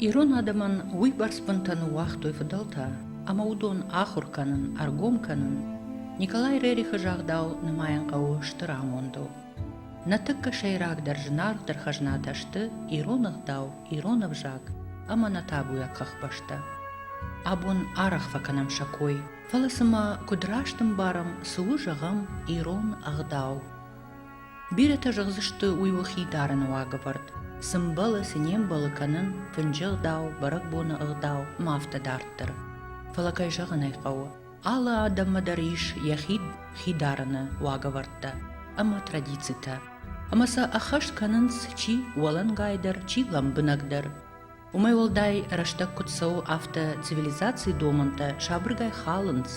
Ирон адӕмӕн уыйбӕрц бынтӕ ныууагътой фыдӕлтӕ, ӕмӕ уыдон ахуыр кӕнын, ӕргом кӕнын Николай Рерихы загъдау нымайын хъӕуы стыр амондыл. Нӕ тыххӕ сӕйрагдӕр зынаргъдӕр хӕзнатӕ сты ирон ӕгъдау, ирон ӕвзаг ӕмӕ нӕ табуйаг хӕхбӕстӕ. Абон арӕх фӕкӕнӕм сӕ кой, фӕлӕ цымӕ куыд раст ӕмбарӕм, цы у зӕгъӕм ирон ӕгъдау? Бирӕтӕ зӕгъдзысты, уый у хи дарыны уагӕвӕрд. Цы мбӕлы, цы не мбӕлы кӕнын, фынджы ӕгъдау, бӕрӕгбоны ӕгъдау ӕмӕ афтӕ дарддӕр. Фӕлӕ, кӕй зӕгъын ӕй хъӕуы, алы адӕммӕ дӕр ис йӕхи хи дарыны уагӕвӕрдтӕ ӕмӕ традицитӕ. Ӕмӕ сӕ ӕххӕст кӕнынц чи уӕлӕнгайдӕр, чи лӕмбынӕгдӕр. Уымӕй уӕлдай рӕстӕг куыд цӕуы, афтӕ цивилизацийы домӕнтӕ сабыргай халынц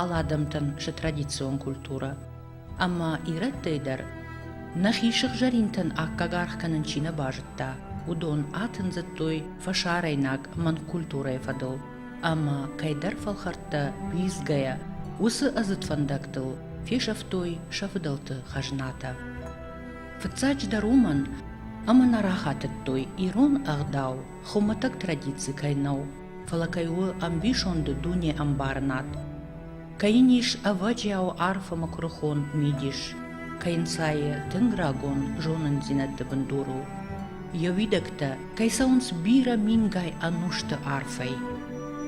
алы адӕмтӕн сӕ традицион культурӕ. Ӕмӕ ирӕттӕй дӕр нӕхи сыгъзӕринтӕн аккаг аргъ кӕнын чи нӕ базыдта, уыдон атындзыдтой фӕсарӕйнаг манкультурӕйы фӕдыл ӕмӕ кӕйдӕр фӕлхӕрттӕ лидзгӕйӕ уыцы ӕдзыд фӕндӕгтыл фесӕфтой сӕ фыдӕлты хӕзнатӕ. Фыццаджыдӕр уымӕн, ӕмӕ нӕ рахатыдтой, ирон ӕгъдау хуымӕтӕг традици кӕй нӕу, фӕлӕ кӕй у ӕмбисонды дунеӕмбарынад, кӕй йын ис ӕвӕджиау арфы мыкъуырхон мидис, кӕй нцайы тынг рагон зонындзинӕдты бындур у. Йӕ уидӕгтӕ кӕй цӕуынц бирӕ мингай ӕнусты арфӕй.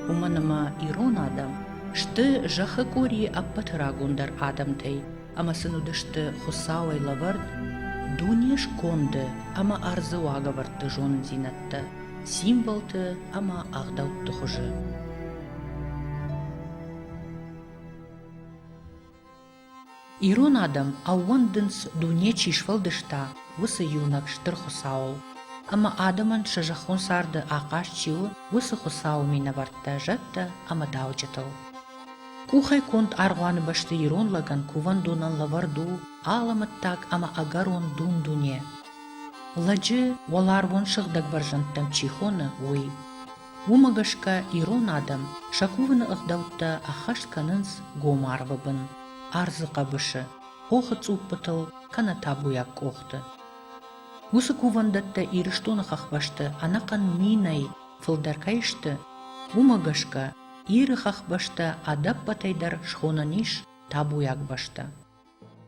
Уымӕн ӕмӕ ирон адӕм сты зӕххы къорийы ӕппӕты рагондӕр адӕмтӕй, ӕмӕ сын уыдысты Хуыцауӕй лӕвӕрд дуне сконды ӕмӕ ӕрдзы уагӕвӕрдты зонындзинӕдтӕ, символты ӕмӕ ӕгъдӕутты хуызы. Ирон адӕм ӕууӕндынц, дуне чи сфӕлдыста, уыцы иунӕг стыр Хуыцауыл. Ӕмӕ адӕмӕн сӕ зӕххон царды ахъаз чи у, уыцы Хуыцауы минӕвӕрттӕ, зӕдтӕ ӕмӕ дауджытыл. Къухӕй конд аргъуаны бӕсты ирон лӕгӕн кувӕндонӕн лӕвӕрд у алӕмӕттаг ӕмӕ ӕгӕрон дун-дуне. Лӕджы уӕларвон сыгъдӕг бӕрзӕндтӕм чи хоны, уый. Уымӕ гӕсгӕ ирон адӕм сӕ кувыны ӕгъдӕуттӕ ӕххӕст кӕнынц гом арвы бын, ӕрдзы хъӕбысы, хохы цъуппытыл кӕнӕ табуйаг къохты. Уыцы кувӕндӕттӕ Ирыстоны хӕхбӕсты ӕнӕхъӕн минӕй фылдӕр кӕй сты, уымӕ гӕсгӕ Иры хӕхбӕстӕ ӕдӕппӕтӕй дӕр схонӕн ис табуйаг бӕстӕ.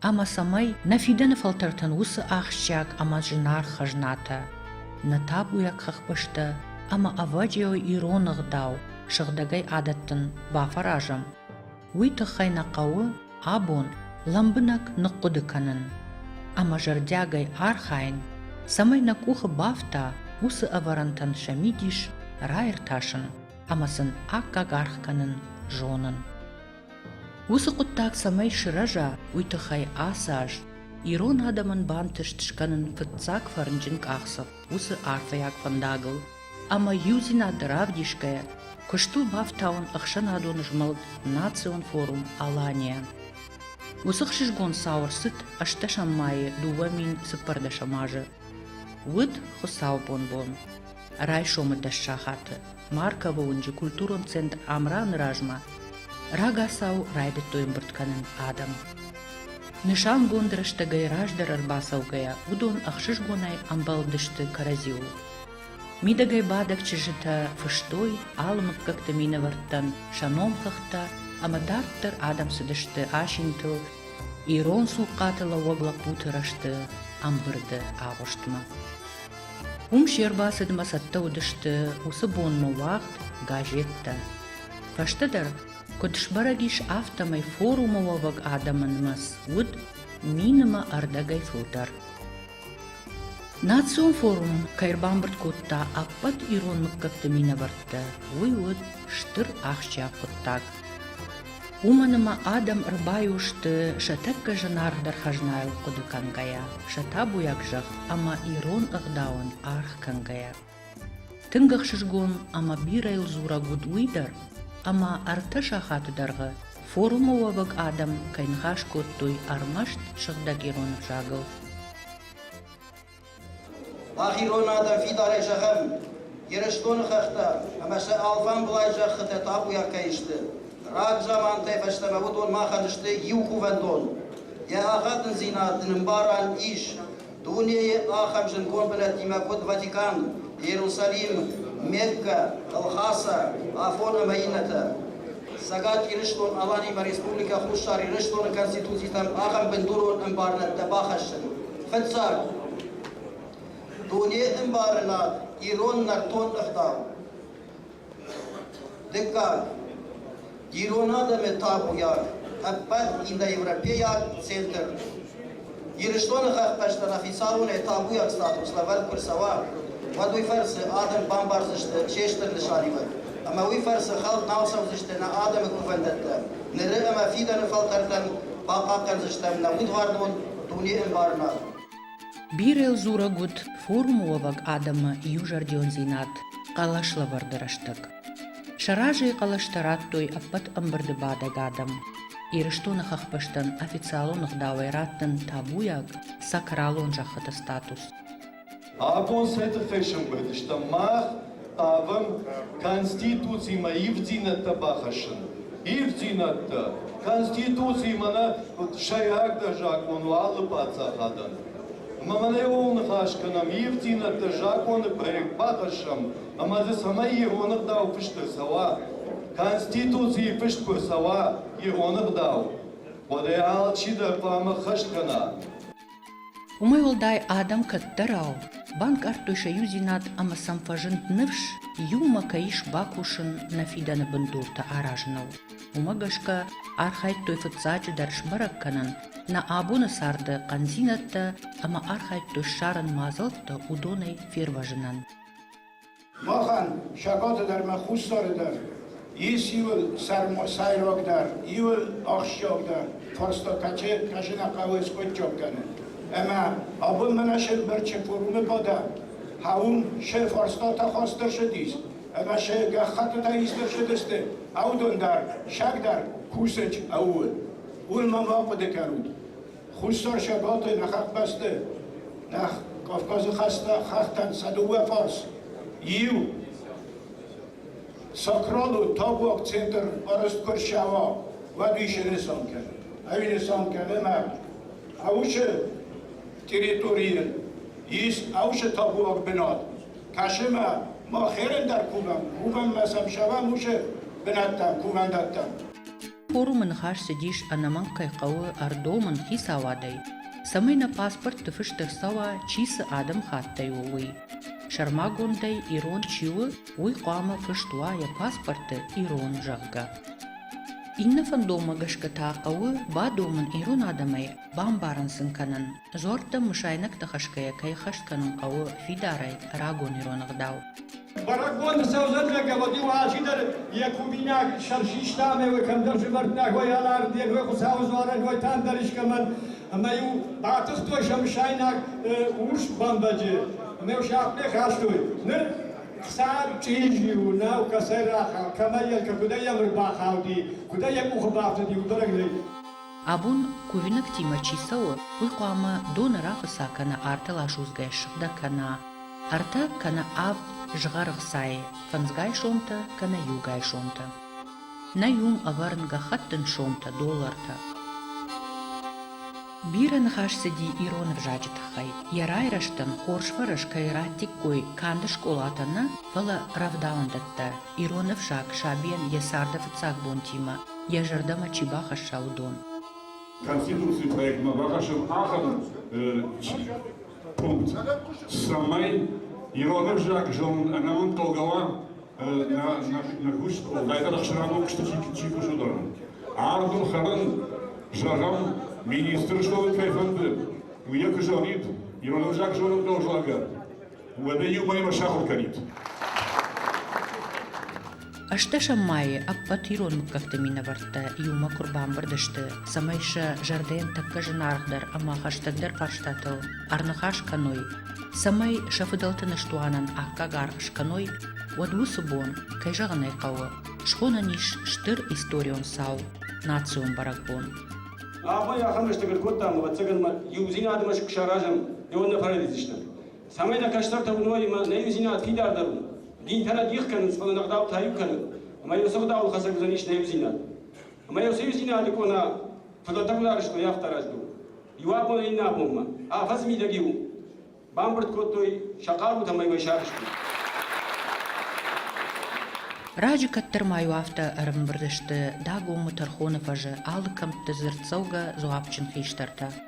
Ӕмӕ цӕмӕй нӕ фидӕны фӕлтӕртӕн уыцы ахсджиаг ӕмӕ зынаргъ хӕзнатӕ, нӕ табуйаг хӕхбӕстӕ ӕмӕ ӕвӕджиауы ирон ӕгъдау сыгъдӕгӕй адӕттын бафӕразӕм, уый тыххӕй нӕ хъӕуы абон лӕмбынӕг ныхъхъуыды кӕнын ӕмӕ зӕрдиагӕй архайын, цӕмӕй нӕ къухы бафта уыцы ӕвӕрӕнтӕн сӕ мидис раиртасын. ӕмӕ сын аккаг аргъ кӕнын зонын. Уыцы хъуыддаг цӕмӕй сырӕза, уый тыххӕй ацы аз ирон адӕмӕн бантыст скӕнын фыццаг фӕрнджын къахдзӕф уыцы арфӕйаг фӕндагыл ӕмӕ иудзинад равдисгӕйӕ куыст у бафтауын ӕхсӕнадон змӕлд Национ форум Алания. Уыцы хсызгон цау ӕрцыд ӕстдӕсӕм майы дыууӕ мин цыппӕрдӕсӕм азы. Уыд хуыцаубон бон. Райсомы дӕс сахаты Марковы уынджы культурон центр Амраны размӕ рагацау райдыдтой ӕмбырд кӕнын адӕм. Нысангонд рӕстӕгӕй раздӕр ӕрбацӕугӕйӕ уыдон ӕхсызгонӕй ӕмбӕлдысты кӕрӕдзиуыл. Мидӕгӕй бадӕг чызджытӕ фыстой алы мыггӕгты минӕвӕрттӕн сӕ номхыгъдтӕ ӕмӕ дарддӕр адӕм цыдысты асинтыл ирон цухъхъаты лӕууӕг лӕппуты рӕзты ӕмбырды агъуыстмӕ. Уым се рбацыдмӕ цӕттӕ уыдысты уыцы бонмӕ уагъд газеттӕ. Фӕстӕдӕр, куыд сбӕрӕг ис, афтӕмӕй форумы уӕвӕг адӕмы нымӕц уыд минимы ӕрдӕгӕй фылдӕр. Национ форум кӕй ӕрбамбырд кодта ӕппӕт ирон мыггӕгты минӕвӕрттӕ, уый уыд стыр ахсджиаг хъуыддаг. уымӕн ӕмӕ адӕм ӕрбайо сты, сӕ тӕккӕ зынаргъдӕр хӕзнайыл хъуыды кӕнгӕйӕ, сӕ табуйаг зӕхх ӕмӕ ирон ӕгъдауӕн аргъ кӕнгӕйӕ. Тынг ӕхсызгон ӕмӕ бирӕйыл дзурӕг уыд уый дӕр, ӕмӕ ӕртӕ сахаты дӕргъы форумы уӕвӕг адӕм кӕй ныхас кодтой ӕрмӕст сыгъдӕг ирон ӕвзагыл. Мах ирон адӕм фидарӕй зӕгъӕм Ирыстоны хӕхтӕ ӕмӕ сӕ алфамбылай зӕххытӕ табуйаг кӕй сты. Рагзамантӕй фӕстӕмӕ уыдон махӕн сты иу кувӕндон. Йӕ ӕгадындзинад нын ӕмбарӕн ис. Дунейы ахӕм зынгон бынӕттимӕ куыд Ватикан, Иерусалим, Мекка, Елхаса, Афон ӕмӕ иннӕтӕ. Цӕгат Ирыстон-Аланимӕ Республикӕ Хуссар Ирыстоны Конституцитӕм ахӕм бындурон ӕмбарынӕдтӕ бахӕссын. Фыццаг, дуне ӕмбарынад ирон нӕртон ӕгъдау. Дыккаг, ирон адӕмы табуйаг, ӕппӕт индоевропейаг центр. Ирыстоны хӕхбӕстӕ нӕ хицауонӕй табуйаг статус лӕвӕрд куы рцӕуа, уӕд уый фӕрцы адӕм бамбардзысты се стыр нысаниуӕг, ӕмӕ уый фӕрцы хӕлд нал цӕудзысты нӕ адӕмы кувӕндӕттӕ, ныры ӕмӕ фидӕны фӕлтӕртӕн бахъахъхъӕндзыстӕм нӕ удварнон дуне ӕмбарынад. Бирӕ дзурӕг уыд форумы уӕвӕг адӕмы иузӕрдиондзинад хъӕлӕслӕвӕрды рӕстӕг. Сӕ разӕй хъӕлӕстӕ радтой ӕппӕт ӕмбырды бадӕг адӕм. Ирыстоны хӕхбӕстӕн официалон ӕгъдауӕй раттын табуйаг сакралон зӕххыты статус. Абон сӕ тыххӕй сӕмбырд стӕм мах, хъавӕм Конституцимӕ ивддзинӕдтӕ бахӕссын. Ивддзинӕдтӕ, Конституциимӕ нӕ куыд сӕйрагдӕр закъон у алы паддзахадӕн. Ӕмӕ мӕнӕ ууыл ныхас кӕнӕм, ивддзинӕдтӕ закъоны проект бахӕссӕм ӕмӕ дзы цӕмӕй ироныгъдау фыст ӕрцӕуа, Конституцийы фыст куы ӕрцӕуа ироныгъдау, уӕдӕй алчидӕр хъуамӕ хӕст кӕна. Уымӕй уӕлдай адӕм кӕддӕрау банкъардтой сӕ иудзинад ӕмӕ сӕм фӕзынд ныфс, иумӕ кӕй ис бакусын нӕ фидӕны бындуртӕ аразыныл. Уымӕ гӕсгӕ архайдтой фыццаджыдӕр сбӕрӕг кӕнын, нӕ абоны царды хъӕндзинӕдтӕ ӕмӕ архайдтой ссарын мадзӕлттӕ уыдонӕй фервӕзынӕн. Махӕн, сахъаты дӕр ӕмӕ хуссары дӕр, ис иуыл сӕйрагдӕр, иуыл ахсджиагдӕр фарста, кӕцы нӕ хъӕуы скъуыдджаг кӕнын. Ӕмӕ абон мӕнӕ Сергберчы форумы бадӕ, хауын се фарстатӕ хастдӕр шыдис, ӕмӕ се гӕххӕттытӕ истдӕр шыдысты, аудон дӕр, саг дӕр кусӕг ӕууы. Уый ма ма хъуыды кӕнут. Хуссар Сабалтӕ нӕ хӕхбӕсты, нӕ Кавказы хӕстӕ хӕхтӕн сӕ дыууӕ фарс, иу Сакралы табуаг центр арӕзт куы ӕрсӕва, уӕд ис ӕнӕсан кӕнӕн. Ӕви нысан кӕнӕнаг Аушы территорийы ис Аушы табуаг бынат, кӕсынмӕ ма херӕн дӕр кувӕм, кувӕм ма сӕм сӕвӕм ушы бынӕттӕ кувӕндӕттӕм. Форумы ныхас цыдис ӕнӕмӕнг кӕй хъӕуы ӕрдомын хицауадӕй, цӕмӕй нӕ паспортты фыст ӕрцӕуа, чи цы адӕмыхаттӕй у, уый. Сӕрмагондӕй ирон чи у, уый хъуамӕ фыст уа йӕ паспорты ирон, зӕгъгӕ. Иннӕ фӕндонмӕ гӕсгӕ та хъӕуы бадомын ирон адӕмӕй, бамбарын сын кӕнын, дзуӕрттӕм мысайнӕгтӕ хӕсгӕйӕ кӕй хӕст кӕнын хъӕуы фидарӕй рагон ирон ӕгъдау. Бӕрӕгбоны сӕудзӕнлӕггӕводи уӕхӕси дӕр Якубинаг сӕрсиста ӕме уой кӕмдӕр зувӕрттнӕгой алӕрддергой Хуцауи дзуарӕнгойтӕн дӕр искӕмӕн ӕма-иу батыхтой сӕмсайнаг урс бӕмбӕджи. Ӕме сахътмӕ хастой. Нур хсар чъизи у, нау кӕцӕй рахауд, кӕмӕй ел, кудӕй ӕмр бахауди, кудӕй йӕ къухы бафтыди, удӕрӕг нӕй. Абон кувинӕгтимӕ чи цӕуы, уый хъуамӕ доны рахуыца кӕна, артыл асудзгӕ ссыгъдӕг кӕна. Ӕртӕ кӕнӕ авд згъӕр ӕхцайы, фӕндзгай сомтӕ кӕнӕ иугай сомтӕ. Нӕ иум ӕвӕрын гӕххӕттын сомтӕ, доллартӕ. Бирӕ ныхас цыди ирон ӕвзаджы тыххӕй. Йӕ райрӕзтӕн хорз фӕрӕз кӕй радтиккой канд скъолатӕ нӕ, фӕлӕ рӕвдауӕндӕттӕ, ирон ӕфсаг сабийӕн йӕ царды фыццаг бонтимӕ йӕ зӕрдӕмӕ чи бахӕсса, уыдон. Конституцийы проектмӕ бахӕссӕм ахӕм чи цӕмӕй ирон ӕвзаг зонын ӕнӕмӕнг хъӕугӕ уа нӕ куст кӕдайдӕр ӕхсӕрӕмон куысты чи кусы уыдон. Ардын хӕрын, зӕгъӕм, министр что кӕй фӕнды, уый куы зонид, ирон ӕвзаг зонын хъӕуы, зӕгъгӕ, уӕдӕ иумӕймӕ сахуыр кӕнид. Ӕстдӕсӕм майы ӕппӕт ирон мыггӕгты минӕвӕрттӕ иумӕ куы рбамбырд сты, цӕмӕй сӕ зӕрдӕйӕн тӕккӕ зынаргъдӕр ӕмӕ хӕстӕгдӕр фарстатыл ӕрныхас кӕной, цӕмӕй сӕ фыдӕлты ныстуанӕн аккаг аргъ скӕной, уӕд уыцы бон, кӕй зӕгъын ӕй хъӕуы, схонӕн ис стыр историон цау – национ бӕрӕгбон. Абон ахӕм рӕстӕг ӕркодтам, ӕвӕццӕгӕн ма иудзинадмӕ саразӕм, ӕвӕнна фӕрӕдидзыстӕм. цӕмӕй нӕ кӕстӕртӕ уыной ӕмӕ нӕ иудзинад фидардӕр у. Динтӕ нӕ дих кӕнынц, фӕлӕ нӕ гъдау тайу кӕны, ӕмӕ иу цы гъдауыл хӕцӕг уыдзӕнис нӕ иудзинад. Ӕмӕ иу цы иудзинады къона фыдӕлтӕ гуынарыстой афтӕ раздӕр у. Иу абонӕй иннӕ абонмӕ афӕдз мидӕг-иу бамбырд кодтой сӕ хъарутӕм ӕмӕ уӕй сарызтой. Раджы кӕддӕр-ма-иу афтӕ ӕрымбырд сты Дагомы тӕрхоны фӕзы алы кӕмтты дзырддзӕугӕ дзуапджын хистӕртӕ.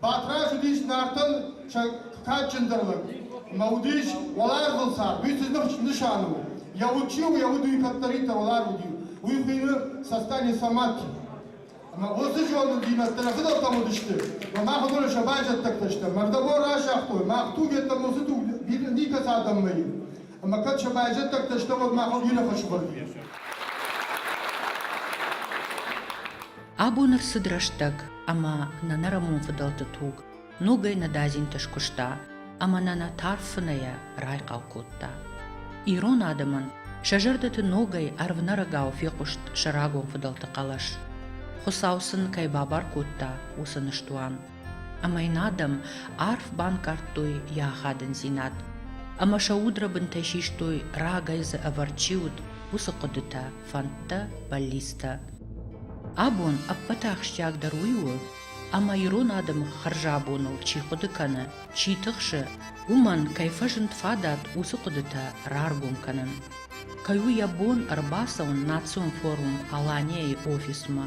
Батрадз уыдис Нартӕн сӕ кадджындӕр лӕг. Ӕмӕ уыдис уӕларвон цард. Уый цы нысан у? Йӕ уд чи у, йӕ уд уый кӕддӕриддӕр уӕларв уыди. Уый хуыйны Састане сӕ мӕт. Ӕмӕ уыцы зонындзинӕдтӕ нӕ фыдӕлтӕм уыдысты, ӕмӕ мах уыдон сӕ байзӕддӕгтӕ стӕм. Мӕрдӕбон разагътой, мах туг йеддӕмӕ уыцы туг никӕцы адӕммӕ и. Ӕмӕ кӕд сӕ байзӕддӕгтӕ стӕм, уӕд махыл бирӕ фӕсывӕд и. Абон ӕрцыд рӕстӕг, ӕмӕ нӕ нӕрӕмон фыдӕлты туг ногӕй нӕдадзинты скуыста ӕмӕ нӕ нӕ тарф фынӕйӕ райхъал кодта. Ирон адӕмӕн сӕ зӕрдӕты ногӕй ӕрвнӕрӕгау фехъуыст сӕ рагон фыдӕлты хъӕлӕс. Хуыцау сын кӕй бабар кодта, уыцы ныстуан. Ӕмӕ йын адӕм арф банкъардтой йӕ ахадындзинад, ӕмӕ сӕ удрӕбынтӕй систой, рагӕй дзы ӕвӕрд чи уыд, уыцы хъуыдытӕ, фӕндтӕ, бӕллицтӕ. Абон ӕппӕт ахсджиагдӕр уый у, ӕмӕ ирон адӕмы хӕрзӕбоныл чи хъуыды кӕны, чи тыхсы, уымӕн кӕй фӕзынд фадат уыцы хъуыдытӕ раргом кӕнын. Кӕй у йӕ бон ӕрбацӕуын национ форум Алания-йы офисмӕ